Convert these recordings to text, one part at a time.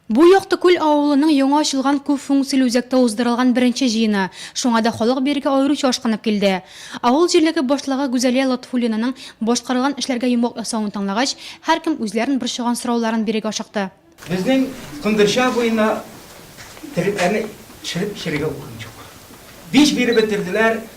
Бу Яктыкүл авылының яңа ачылган күп функцияле үзәктә уздырылган беренче җыены, шуңа да халык бирегә аеруча ашкынып килде. Авыл җирлеге башлыгы Гүзәлия Лотфуллинаның башкарылган эшләргә йомгак ясавын тыңлагач, һәркем үзләрен борчыган сорауларын бирергә ашыкты. Безнең Кондырча буена терекләрне төшереп эчәргә урын юк. Биш биреп бетерделәр,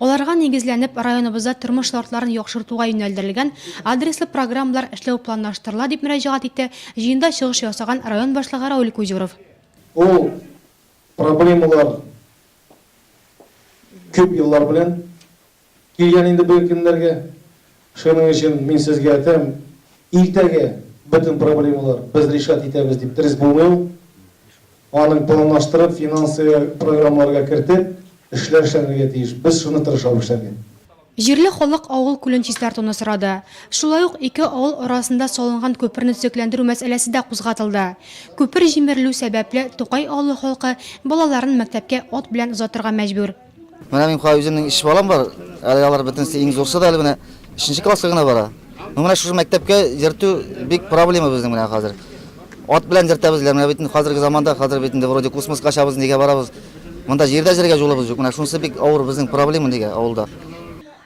Аларга нигезләнеп, районыбызда тормыш шартларын яхшыртуга юнәлдерелгән адреслы программалар эшләү планлаштырыла, дип мөрәҗәгать итте җыенда чыгыш ясаган район башлыгы Рауль Кузюров. Ул проблемалар күп еллар белән килгән инде бу көннәргә. Шуның өчен мин сезгә әйтәм, иртәгә бөтен проблемалар без решать итәбез дип дөрес булмый ул. Аның планлаштырып, финансы программаларга кертеп, эшләр эшләнергә тиеш. Без шуны тырышабыз эшләргә. Җирле халык авыл күлен чистартуны сорады. Шулай ук ике авыл арасында салынган күперне төзекләндерү мәсьәләсе дә кузгатылды. Күпер җимерелү сәбәпле, Тукай авылы халкы балаларын мәктәпкә ат белән озатырга мәҗбүр. Менә мин кая үземнең иш балам бар. Әле алар бөтенесе иң зурсы да әле менә 3 класска гына бара. Ну менә шушы мәктәпкә йөртү бик проблема безнең менә хәзер. Ат белән йөртәбез, менә бит хәзерге заманда хәзер бит инде вроде космоска чабыз нигә барабыз. Монда җирдә җиргә җулыбыз юк. Менә шунысы бик авыр безнең проблема нигә авылда.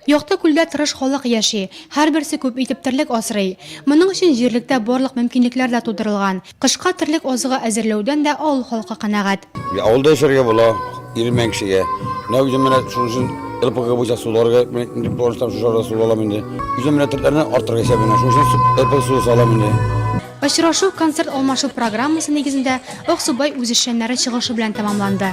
Якты күлдә тырыш халык яши, һәрберсе күп итеп терлек асрый. Моның өчен җирлектә барлык мөмкинлекләр дә тудырылган. Кышка терлек азыгы әзерләүдән дә авыл халкы канәгать. Авылда яшәргә була, Ирмән кешегә. Менә үзем менә шуның өчен РПГ буенча суларга инде планлаштырам, шушы арада су алам инде. Үзем менә терлекләрне арттырырга исәбенә, шуның өчен РПГ суы салам инде. Очрашу концерт алмашу программасы нигезендә Аксубай үзешчәннәре чыгышы белән тәмамланды.